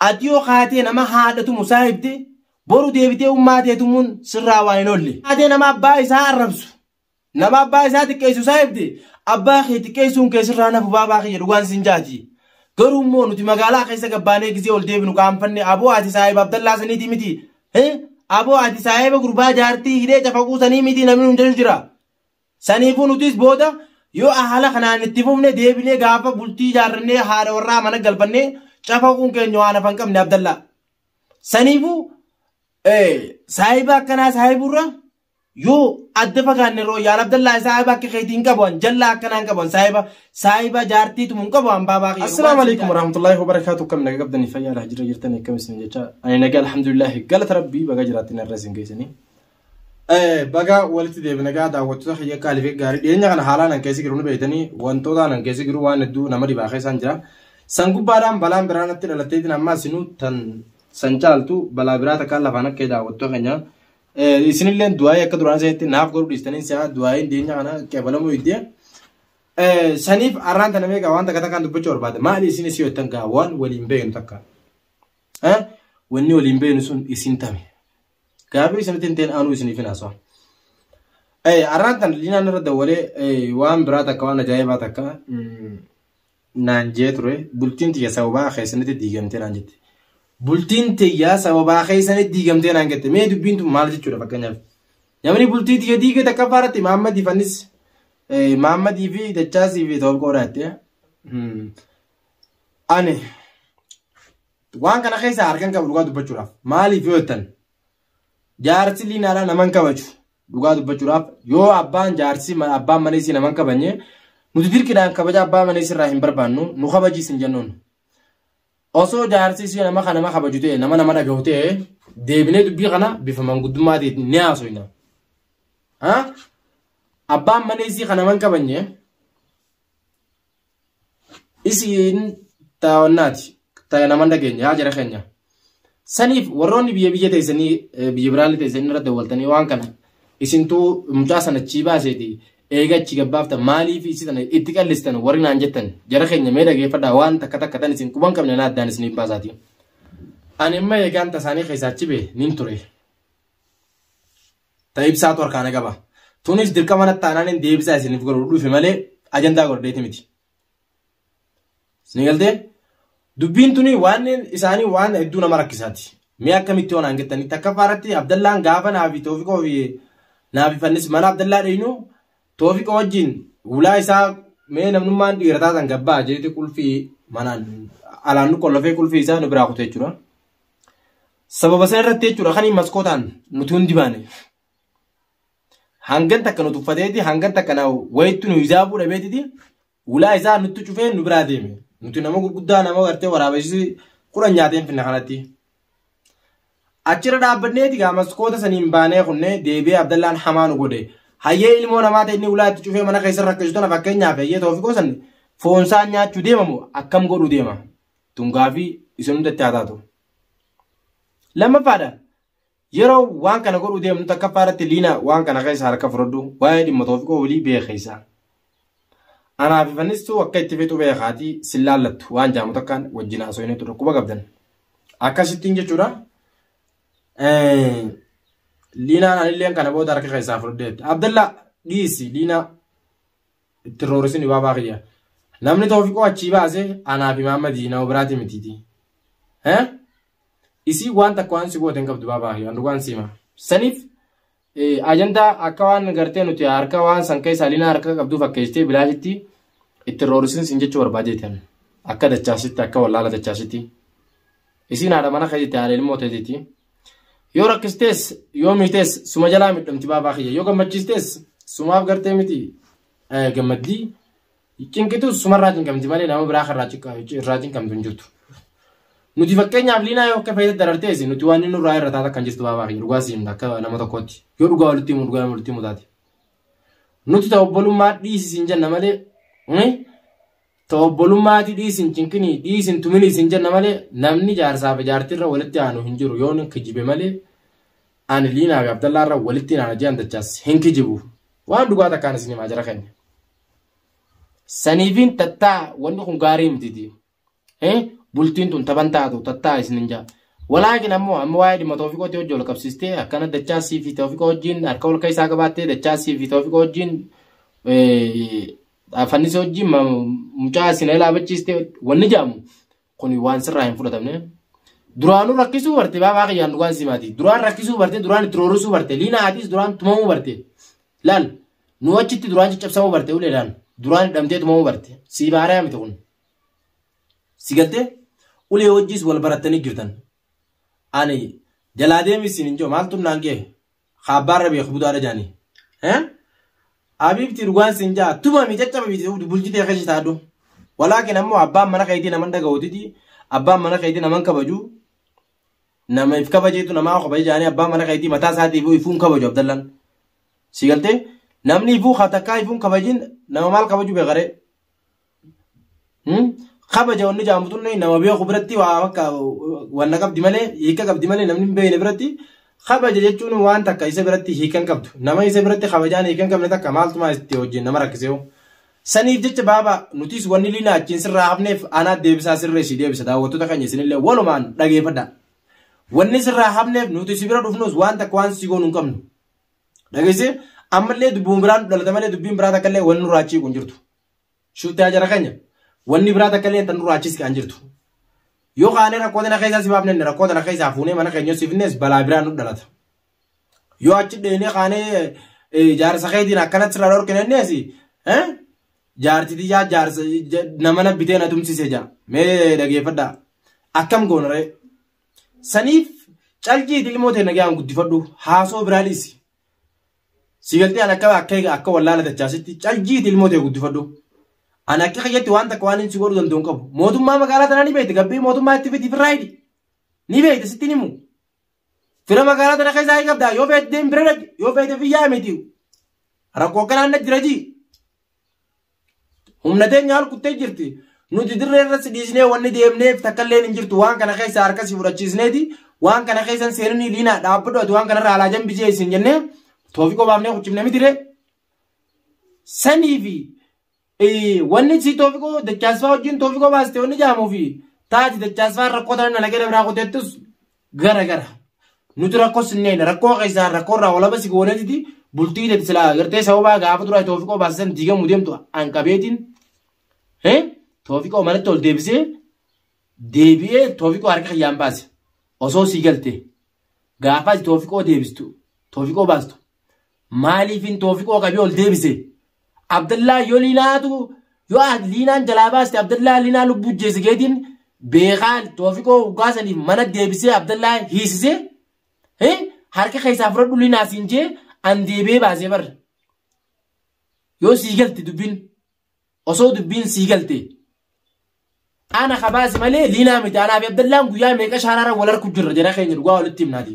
Ati yoo kaatee nama haadha tumu saahibde boru deebitee ummaa tee tumuun sirraa waan hin oolle. Kaatee nama abbaa isaa arrabsu nama abbaa isaa xiqqeessu saahibde abbaa kee xiqqeessuun kee sirraa nafu baabaa kiyya dhugaan siin jaati. Garuu immoo nuti magaalaa keessa gabbaanee gisee ol deebinu qaanfanne aboo ati saahiba Abdallaa saniitii miti. Aboo ati saahiba gurbaa jaartii hidhee cafaquu sanii miti namni nu jaju jira. Saniifuu nutis booda yoo ahala kanaan itti fufne deebinee gaafa bultii ijaarrannee haadha warraa mana galfannee cafaquun keenya waan hafa hin qabne Abdallaa. Saniifuu saahiba akkanaa saahiburra yoo adda fagaanne irra wayya Abdallaa saahiba akka keetii hin qabu an jallaa akkanaa hin qabu an saahiba saahiba jaartii tumu hin qabu an baabaa kiyya. Assalaamu alaikum warahmatullahi wabarakaatu kam naga qabdanii fayyaa laha jira jirtanii akkam isin jecha ani naga alhamdulillahi galata rabbii baga jiraattin irra isin geessanii. Bagaa walitti deebina gaa daawwattoota kiyya qaalii fi gaarii dhiyeenya kana haalaan an keessa jiru ni beektanii wantoota an keessa jiru waan hedduu nama dhibaa keessaan jira. San gubbaadhaan balaan biraa natti dhalatteetiin amma isinuu tan san caaltu balaa biraa takkaan lafaan akka daawwattoota keenya. Isinillee du'aayii akka duraan isinitti naaf godhu dhiistanii si'a du'aayiin dhiyeenya kana qeebalamuu iddee. Saniif arraan tana meeqa waan takka takkaan dubbachuu barbaada. Maali isin isii hojjetan gaa waan waliin beeknu takka. Wanni waliin beeknu sun isin tame. Gaafii isinitti hin ta'in aanuu isiniif hin haasawaa. Arraan tan liinaan irra dawwalee waan biraa takka waan ajaa'ibaa takka naan jee ture bultiin tiyya sababaa keessanitti diigamtee naan jette. Bultiin tiyya sababaa keessanitti diigamtee naan jette mee dubbiin tun maal jechuudha fakkeenyaaf. Namni bultii tiyya diige takkaffaa irratti Maammadii fannis Maammadii fi Dachaasii fi Toobqoo dhaatte. Ani Waan kana keessaa harkan qabu dhugaa dubbachuudhaaf. Maaliif yoo jettan jaarsi liinaadhaa naman kabaju dhugaa dubbachuudhaaf yoo abbaan jaarsi abbaan mana isii naman kabanye nuti dirqidhaan kabaja abbaa mana isirraa hin barbaannu nu kabajiis hin jennuun. Osoo jaarsi isii nama kana nama kabaju ta'e nama nama dhagahu ta'e deebinee dubbii kana bifa manguddummaatiin ni haasofna. Abbaan mana isii kana naman kabanye isiin taa'onnaati ta'e naman dhageenya yaa jara keenya saniif warroonni biyya biyya teessanii biyya biraallee teessanii irra dawwaltanii waan kana isintuu mucaa sana achii baaseeti eega achi gabbaaftan maaliif isi sana itti qallistan warri naan jettan jara keenya mee dhageeffadhaa waan takka takka tan isin quban qabne naa addaan isiniif baasaati. Ani immoo eegaan tasaanii keessaa achi bee nin ture. ta ibsaatu harkaa na qaba. Tunis dirqama natti taanaanin deebisaa isiniif godhu dhufe malee ajandaa godhadheeti miti. Isinii galtee? Dubbiin tuni waan isaanii waan hedduu nama rakkisaati. Mee akkamitti yoo naan jettanii takkaffaa irratti Abdallaan gaafa naa fi Toofiqoo fi naa fi fannis mana Abdallaa dheynu Toofiqoo wajjin ulaa isaa mee namnummaan dhiira taatan gabbaa jeeti qulfii manaan alaan nu qollofee qulfii isaa nu biraa kutu jechuudha. Sababa sana irratti jechuudha kan maskootaan nuti hundi baane. Hangan takka nu tuffateeti hangan takka na wayittu nu hijaabuu dhabeetiti ulaa isaa nutti cufee nu biraa deeme. Nuti nama gurguddaa nama gartee waraabessi kudhan nyaateen finna kanatti. Achirra dhaabbanneeti gaa maskoota saniin baanee kunnee deebi'ee Abdallaan hamaa nu godhe. Hayyee ilmoo namaa ta'e inni ulaa itti cufee mana keessa rakkisu tana fakkeenyaaf hayyee toofikoo san foonsaa nyaachuu deemamu akkam godhuu deema. Tungaa fi isin hundatti haa taatu. Lammaffaadha. Yeroo waan kana godhuu deemnu takkaffaa irratti liina waan kana keessa harka fudhadhu waa'ee dhimma toofiqoo olii beekeessa. Anaa fi fannistuu akka itti fixu beekaatii sin laallattu waan jaamu takkaan wajjin haasofnee turre quba qabdan. Akkasittiin jechuudha. Liinaan anilleen kana booda harka keessaa fudhadheetti. Abdallaa dhiisi liinaa Itti roorisin dhibaabaa kiyya. Namni toofiqoo achii baase anaa fi Maammadii nama biraatii mitiiti. Hee? Isii waan takka waan si goote hin qabdu baabaa kiyya. Waan dhugaan siima. Saniif ajandaa akka waan gartee nuti harka waan san keessa alinaa harka qabduu fakkeessitee bilaashitti itti roorisin sin jechuu barbaadeetan. Akka dachaasitti akka wallaala dachaasitti. Isiin haadha mana keetitti haadha ilmoo teetitti. Yoo rakkistees yoo miitees suma jalaa midhamti baabaa kiyya. Yoo gammachiistees sumaaf gartee miti gammaddi. Cinqitus sumarraa cinqamti malee nama biraa kan irraa cinqamtu hin jirtu. Nuti fakkeenyaaf liinaa yoo akka fayyadatti darartees nuti waan inni nurraa irra taata kan jirtu baabaa kiyya. Dhugaa siin akka nama tokkootti. Yoo dhugaa walitti himu dhugaa walitti himu taate. Nuti ta'u obbolummaa dhiisi siin jenna malee Ta obbolummaati dhiisi hin cinqinii dhiisi hin tuminii siin jenna malee namni jaarsaa fi jaartiirra walitti aanu hin jiru yoon hin kijibe malee ani liinaa fi abdallaarra walitti hin aana ji'an dachaas hin kijibu waan dhugaa takkaan isin himaa jara keenya. Saniifiin tattaa wanni kun gaarii mititi. Bultiin tun taban taatu tattaa isin hin jaa. Walaakin ammoo amma waa'ee dhimma toofiqootti hojii ol qabsiistee akkana dachaasii fi toofiqa hojiin harka ol keessaa qabaattee dachaasii fi toofiqa hojiin Fannisa hojii mucaa isin elaabachiiste wanni jedhamu kun waan sirraa hin fudhatamne. Duraanuu rakkisuu barte baabaa kiyyaan dhugaan si maati. Duraan rakkisuu barte duraan itti roorrisuu barte liina haatiis duraan tumamuu barte. Laal nu achitti duraan caccabsamuu barte uleedhaan duraan hidhamtee tumamuu barte si baaree miti kun. Si galtee ulee wajjis wal barattanii jirtan. Ani jalaa deemis isin hin jiru maaltu naan ga'e. ka abbaarra beeku budaadha jaani abibti dhugaan sin jaa tumami caccababiti bulchitee keessa taadhu walaakin ammoo abbaan mana keetii naman dhaga'utiti abbaan mana keetii naman kabaju nama if kabajeetu namaa kabaje jaanii abbaan mana keetii mataa isaatiif ifuun kabaju abdallan si galtee namni ifuu ka takkaa ifuun kabajin nama maal kabaju beekare kabaja wanni jaamu tunne nama beeku biratti waa akka wanna qabdi malee hiika qabdi malee namni hin beekne biratti kabaja jechuun waan takka isa biratti hiika hin qabdu nama isa biratti kabajaan hiika hin qabne takka maaltumaa itti wajjin nama rakkisee saniif jecha baaba nutis wanni liina achiin sirraa hafneef anaa deebisaa sirree si deebisa daawwattoota keenya isinillee walumaan dhageeffadha wanni sirraa hafneef nuti si bira dhufnus waan takka waan si goonu hin qabnu dhageesse ammallee dubbiin biraan dhalata malee dubbiin biraa takka illee wanni nurraa achiiqu hin jirtu. Shuttaa jara keenya. Wanni biraa takka illee tan duraachiis kan jirtu. Yoo kaanee rakkoo tana keessaa si baafne rakkoo tana keessaa fuunee mana keenya si finnes balaa biraa nu dhalata. Yoo achi dheenee kaanee jaarsa keetiin akkanatti sirraa dhorkine innees jaarti tiyyaa jaarsa nama na bitee na tumsise jaa mee dhageeffadhaa akkam goonaree saniif caljiiti ilmoo ta'e nagaan guddifadhu haasoo biraa dhiisi. Si galtee an akka akka eega akka wallaala dachaasitti caljiiti ilmoo ta'e guddifadhu. An akka kiyyatti waan takka waan inni si godhu danda'u hin qabu. Mootummaa magaalaa tanaa ni beekte gabbii mootummaa itti fidi firraa hidhi. Ni beekte sitti ni himu. Fira magaalaa tana keessaa hin qabdaa yoo feete deem bira dhaqi yoo feete fiyyaa miti. Rakkoo akkanaa na jira jii. Humna teenya haal kuttee jirti. Nuti dirree irratti dhiisnee wanni deemneef takkalleen hin jirtu waan kana keessa harka si fudhachiisneeti waan kana keessa hin seeninii diinaa dhaabbadhu ati waan kanarraa alaa jambisee isin jennee toofiqoo baafnee kuchifne miti ree. Sanii fi eh, wanni si toofiqoo dachaasfaa wajjin toofiqoo baaste wanni jaamuu fi taati dachaasfaa rakkoo tanan alagee dabraa kuteettus gara gara nuti rakkoo sinneen rakkoo keessaa rakkoo irraa walaba si goonetiti bultii teeti silaa gartee sababaa gaafa duraa toofiqoo baasisan diigamu deemtu an qabeetiin hee toofiqoo manatti ol deebisee deebi'ee toofiqoo harka kiyyaan baase osoo sii galte gaafa ati toofiqoo deebistu toofiqoo baastu Maaliifin toofiqoo qabee ol deebise? Abdallaa yoo liinaatu yoo ah liinaan jalaa baaste Abdallaa liinaa lubbuu jeesse keetiin beekaa toofiqoo hoggaa saniif mana deebisee Abdallaa hiisise eh, harka keessaa fudhadhu liinaa siin jee an deebee baasee barra. Yoo sii galte dubbin Osoo dubbiin sii galte ana kabaasi malee liinaa miti anaa fi abdallaan guyyaa meeqa shaaraarra wal arku jirra jara keenya dhugaa walitti himnaati.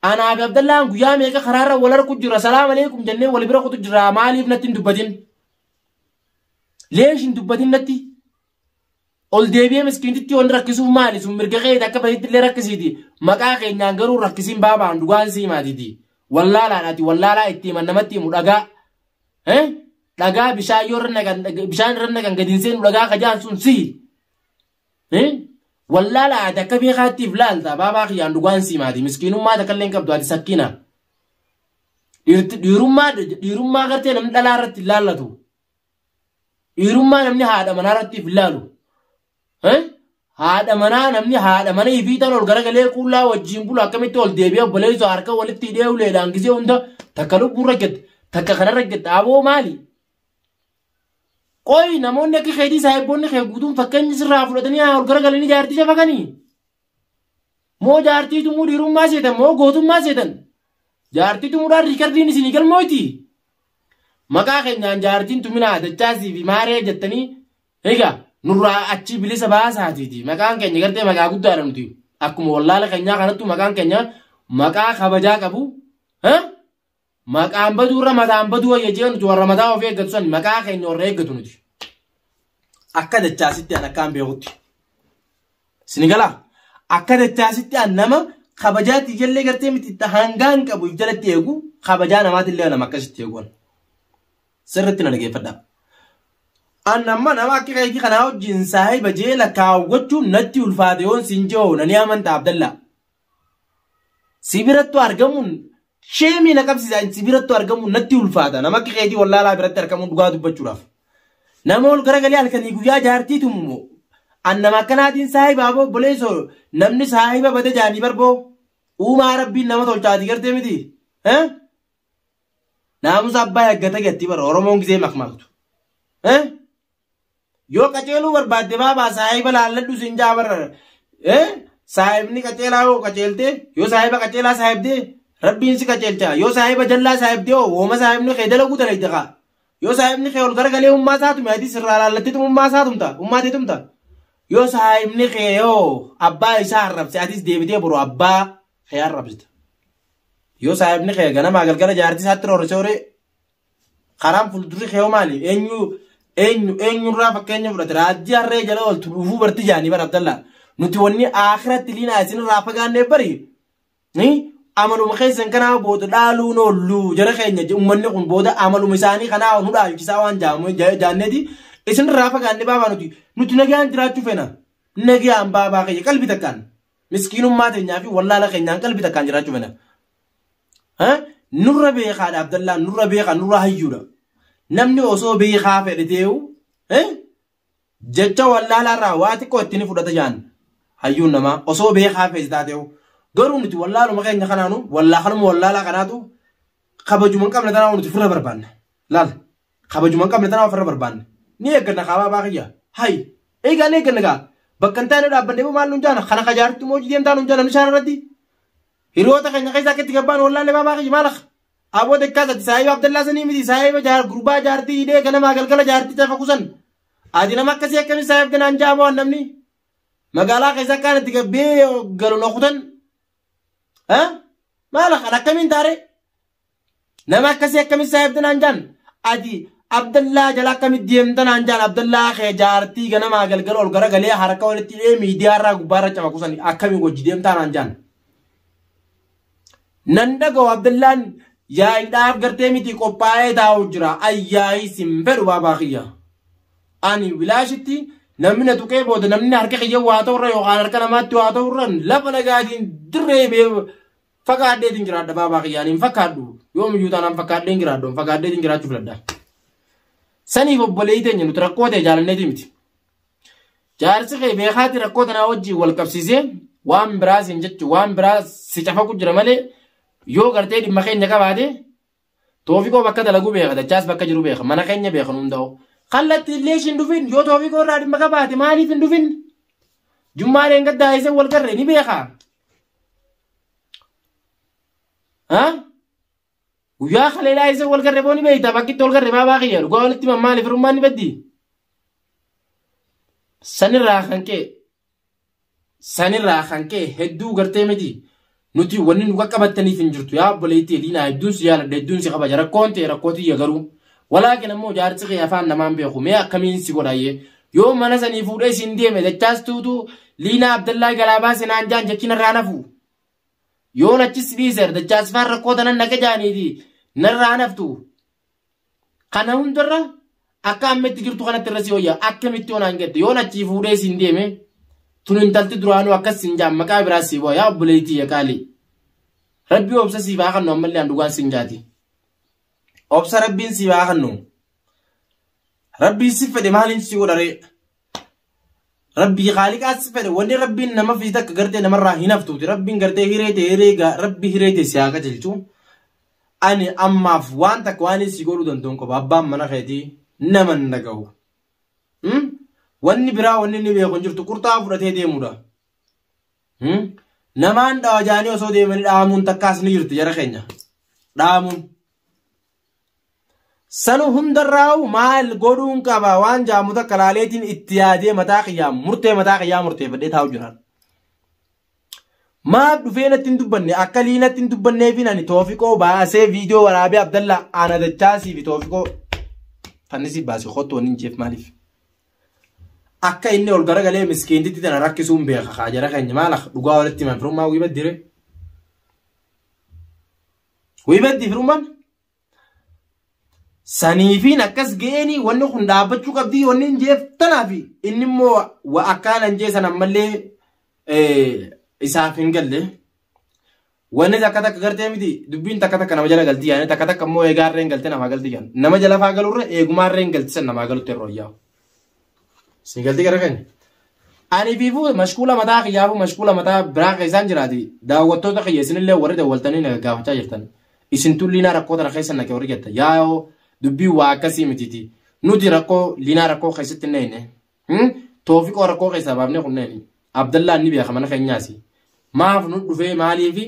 Anaa fi abdallaan guyyaa meeqa karaarra wal arku jirra salaam aleekum jennee wal bira kutu jirra maaliif natti hin dubbatin. Leesh hin dubbatin natti. Ol deebi'ee miskiintitti yoon rakkisuuf maali sun mirga keeti akka fedhitti illee rakkisiiti maqaa keenyaan garuu rakkisiin baabaan dhugaan sii maatiiti. Wallaalaadhaati wallaalaa itti himan namatti himu dhagaa. Eh? Dhagaa bishaan yoo irra naqan bishaan irra naqan gadi hin seenu dhagaa kajaan sun sihi. Eh? Wallaala ati akka beekaattiif laalta baabaa kiyyaan dhugaan siimaati miskiinummaa takka illee hin qabdu ati sakkina. Dhiirti- Dhiirummaa dhiirummaa gartee namni dhalaa irratti hin laallatu. Dhiirummaa namni haadha manaa irratti hin laalu. Eh? Haadha manaa namni haadha mana ifiitan ol garagalee quullaa wajjin bulu akkamitti ol deebi'ee obboleessa harka walitti hidhee uleedhaan gisee hunda takka lubbuu rakkette takka kana rakkette aboo maali? Qoy namoonni akka keetii saayibboonni kee guutuun fakkeenya sirraa fudhatanii ol garagalanii jaartii shafakanii. Moo jaartii tumuu dhiirummaa seetan moo gootummaa seetan. Jaartii tumuudhaan riikardiin isinii galmooti. Maqaa keenyaan jaartiin tuminaa dachaasii fi maaree jettanii Egaa nurraa achii bilisa baasaatiiti maqaan keenya gartee maqaa guddaadha nuti akkuma wallaala keenyaa kanattu maqaan keenya maqaa kabajaa qabu ha? maqaan baduu irra mataan baduu wayya jee nuti warra mataa ofii eeggatu san maqaa keenya warra eeggatu nuti akka dachaasitti an akkaan beekutti sini galaa akka dachaasitti an nama kabajaatti ijallee gartee miti hangaan qabu jalatti eegu kabajaa namaatillee nama akkasitti eeguun Sirritti na dhageeffadhaa. An amma nama akka keetii kanaa wajjin saahiba jee lakkaa'u gochuun natti ulfaate yoon siin je'oo na ni amanta Abdallaa. Si birattu argamuun sheemii na qabsiisa si birattu argamuun natti ulfaata nama akka keetii wallaalaa biratti argamuun dhugaa dubbachuudhaaf. Nama ol garagalee halkanii guyyaa jaartii tumumoo an nama akkanaatiin saahiba aboo obboleessoo namni saahiba bade jaanii barboo uumaa rabbiin nama tolchaati gartee miti. Eh? Naamusa abbaa eeggata jetti bara Oromoon gisee makmaktu. Eh? Yoo qaceeluu barbaadde baabaa saahiba laalladhu sin jaa bara. Eh? Saahibni qaceelaa yoo qaceeltee yoo saahiba qaceelaa saahibdee rabbiin si qaceelcha yoo saahiba jallaa saahibdee hoo wooma saahibni kee dalaguu dalagde kaa. Yoo saahibni kee ol garagalee ummaa isaa tume ati sirraa laallatteetu ummaa isaa tumta ummaa tee tumta. Yoo saahibni kee yoo abbaa isaa arrabse atis deebitee boroo abbaa kee arrabsita. Yoo saahibni kee ganamaa galgala jaartii isaatti roorrisee horee karaan fuuldurri kee hoo maali? Eenyu eenyu eenyurraa fakkeenya fudhate raajjii harree jala ooltu dhuufuu barti jaanii bara Abdallaa. Nuti wanni akhiratti liinaa isinirraa fagaannee bari. Ni amaluma keessan kanaa booda dhaaluun oollu jara keenya je- ummanni kun booda amaluma isaanii kanaa nu dhaalchisaa waan jaamu ja- jaanneeti isinirraa fagaannee baabaa nuti nuti nagaan jiraachuu feena. Nagaan baabaa keenya qalbii takkaan. Miskiinummaa teenyaa fi wallaala keenyaan qalbii takkaan jiraachuu fena. Nurra beekaadha Abdallaan nurra beekaa nurra hayyuudha. Namni osoo beekaa fedhe ta'eewu jecha wallaalaarraa waa xiqqoo itti ni fudhata jaan hayyuun namaa osoo beekaa fedhe taateewu. Garuu nuti wallaaluma keenya kanaanu wallaaluma wallaalaa kanaatu kabajuma hin qabne tanaa nuti firra barbaanna. Laala Kabajuma hin qabne tana ofirra barbaanne. Ni eegganna kaabaa baa kiyya. Hay! Eegaa ni eegganna gaa. Bakka hin taane dhaabbanne maal nuun jaana? Kana ka jaartu moo hojii deemtaa nuun jaana bishaan irratti? Hiriyoota keenya keessaa akka itti gabbaan wallaalle baa baa kiyya maal akka? Aboo dekkaas ati saahiba Abdallaa sanii miti saahiba jaar gurbaa jaartii hidhee ganamaa galgala jaartii tafa kusan. Ati nama akkasii akkamii saahib ganaan ja'a moo namni? Magaalaa keessa akkaan itti gabbee galu na kutan. Maal akkan akkamiin taaree? Nama akkasii akkamitti saahibta naan jaan? Ati Abdallaa jala akkamitti deemta naan jaan? Abdallaa kee jaartii ganamaa galgala ol garagalee harka walitti hidhee miidiyaa irraa gubbaa irra camaku san akkamii wajji deemtaa naan jaan? Nan dhaga'u Abdallaan yaa'iidhaaf gartee miti qophaa'ee taa'u jira. Ayyaa'ii sin fedhu baabaa kiyya. Ani bilaashitti namni na tuqee booda namni harka kiyya waa ta'urra yookaan harka namaatti waa ta'urra lafa nagaatiin dirree bee fagaadheetiin jiraadha baabaa kiyyaan hin fakkaadhu yoomiyyuu taanaan fakkaadheen jiraadhu hin fagaadheetiin jiraachuu filadha. Saniif obboleeyi teenya nuti rakkoo ta'e jaalanneeti miti. Jaarsi kee beekaati rakkoo tanaa wajjin wal qabsiisee waan biraa siin jechu waan biraa si cafaqu jira malee yoo gartee dhimma keenya qabaate Toofikoo bakka dalagu beeka dachaas bakka jiru beeka mana keenya beeka nu hunda'u. Kallatti illee ishiin dhufin yoo toofikoo irraa dhimma qabaate maaliif hin dhufin? Jummaa dheengadda daa'isee wal garre ni beeka. Guyyaa kalee daa'isee wal garre boo ni beekta bakkitti wal garre baabaa kiyya dhugaa walitti mammaali firummaan ni baddi. Sanirraa kan ka'e Sanirraa kan ka'e hedduu gartee miti. Nuti wanni nu qaqqabattaniif hin jirtu yaa obboleettii Eliinaa hedduun si jaaladha hedduun si kabaja rakkoon ta'e rakkoo tiyya garuu. Walaakin ammoo jaarsi kee afaan namaan beeku mee akkamiin si godhaayye yoo mana sanii fuudhee siin deeme dachaas tuutu Liinaa Abdallaa jalaa baase naan jaan jechi narraa nafu. Yoon achis dhiiser dachaas faan rakkoo tanan naqe jaaniiti narraa naftu. Kana hundarra akka amma itti jirtu kanatti irra si wayya akkamitti onaan gette yoon achii fuudhee siin deeme tun intalti duraanuu akkas siin jaan maqaa biraa sii bu'a yaa obboleettii ya qaalii. Rabbi obsa siif haa kennu ammallee an dhugaan siin jaati. Obsa rabbiin siif haa kennu. Rabbiin si fedhe maaliin si godharee? Rabbii khaaliqaas si fedhe wanni rabbiin nama fi takka gartee namarraa hin haftuuti rabbiin gartee hiree ta'e hiree gaa rabbi hiree ta'e si haa qajeelchu ani ammaaf waan takka waan si godhuu danda'u hin qabu abbaan mana keetii nama hin dhagahu Hmm? wanni biraa wanni inni beeku hin jirtu qurxaa fudhatee deemudha Hmm? namaan dhawajaanii osoo deemanii dhaamuun takkaas ni jirti jara keenya dhaamuun Sanu hundarraa'u maal godhuun qaba waan jaamu takka laaleetiin itti yaadee mataa kiyyaa murtee mataa kiyyaa murteeffadhee taa'u jira. Maaf dhufee natti hin dubbanne akka liinatti hin dubbanneefiin ani toofiqoo baasee viidiyoo waraabee abdallaa ana dachaasii fi toofiqoo fannisi baasee kottu waliin jeef maaliif? Akka inni ol garagalee miskiintitti tana rakkisuun beeka kaa jara keenya maala dhugaa walitti himan firummaa wii baddire. Way baddi firummaan. Saniifiin akkas ga'eenii wanni kun dhaabbachuu qabdii wanni hin jeef tanaafi inni immoo wa akkaanan jee san ammallee isaaf hin galle. Wanni takka takka gartee miti dubbiin takka takka nama jala galtii yaani takka takka immoo eegaarreen galte namaa galtii yaani. Nama jala faa galurra eegumaarreen galtisan namaa galutti yeroo yaa'u. Sii galtii gara keenya. Ani fi fuute mashkuula mataa kiyyaa fi mashkuula mataa biraa keessaan jiraati. Daawwattoota kiyya isinillee warri daawwaltanii na gaggaafachaa jirtan. Isin tun liinaa rakkoo tana keessa naqe warri jetta. Yaa'oo dubbii waa akkasii mitiiti. Nuti rakkoo liinaa rakkoo keessatti hin eeyne. Toofiqoo rakkoo keessaa baafnee kunneen. Abdallaan ni beeka mana keenyaasi. Maaf nu dhufee maaliifi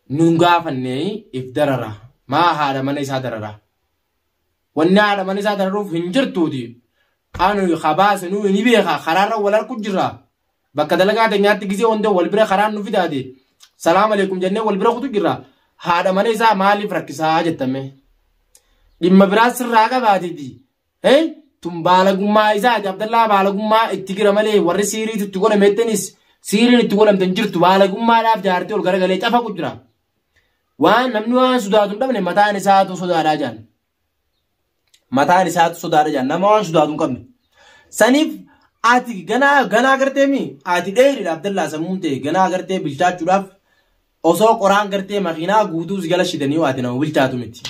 nun gaafannee if darara. Maa haadha mana isaa darara. Wanni haadha mana isaa dararuuf hin jirtuuti. Anu habaase nuu ni beeka karaarra wal arku jirra. Bakka dalagaa teenyaatti gisee wanta wal bira karaan nu fidaate. Salaam aleekum jennee wal bira kutu jirra. Haadha mana isaa maaliif rakkisaa jettame. Dhimma biraa sirraa qabaatiti. Hee tun baalagummaa isaati Abdallaa baalagummaa itti gira malee warri siiriitu itti godhameettanis siiriin itti godhamte hin jirtu baalagummaadhaaf jaartii ol garagalee cafa jira. Waan namni waan sodaatu hin dhabne mataan isaatu sodaadhaa jaan. Mataan isaatu sodaadha jaan nama waan sodaatu hin qabne. Saniif ati ganaa ganaa gartee mi ati dheeridha Abdallaa sammuun ta'e ganaa gartee bilchaachuudhaaf osoo qoraan gartee makiinaa guutuu si gala shidanii ati nama bilchaatu miti.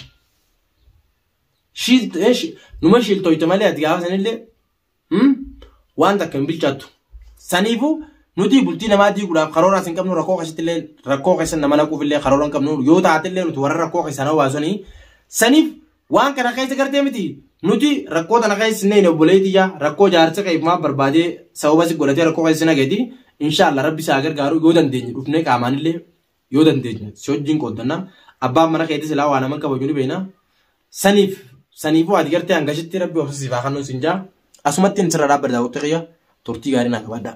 Shiilt numa shiiltoyte malee ati gaafa sanillee Hmm? Waan takka hin bilchaattu. Saniifuu nuti bultii namaa diiguudhaaf karooraas hin qabnu rakkoo keessatti illee rakkoo keessan nama naquuf illee karoora hin qabnu yoo taate illee nuti warra rakkoo keessan hawaasanii saniif waan kana keessa gartee miti nuti rakkoo tana keessa hin neene obboleetii yaa rakkoo jaarsa keef maa barbaadee sababa si godhatee rakkoo keessa hin hageeti inshaallah rabbi isaa gargaaru yoo dandeenye dhufnee qaamaan illee yoo dandeenye si wajjin qooddanna abbaan mana keetii silaa waa naman kabaju ni beekna saniif saniifuu ati gartee hangashitti rabbi obsa siif haa kennu sin jaa asumatti hin sirra dhaabbadha daawwattota kiyya turtii gaarii naa qabaadhaa.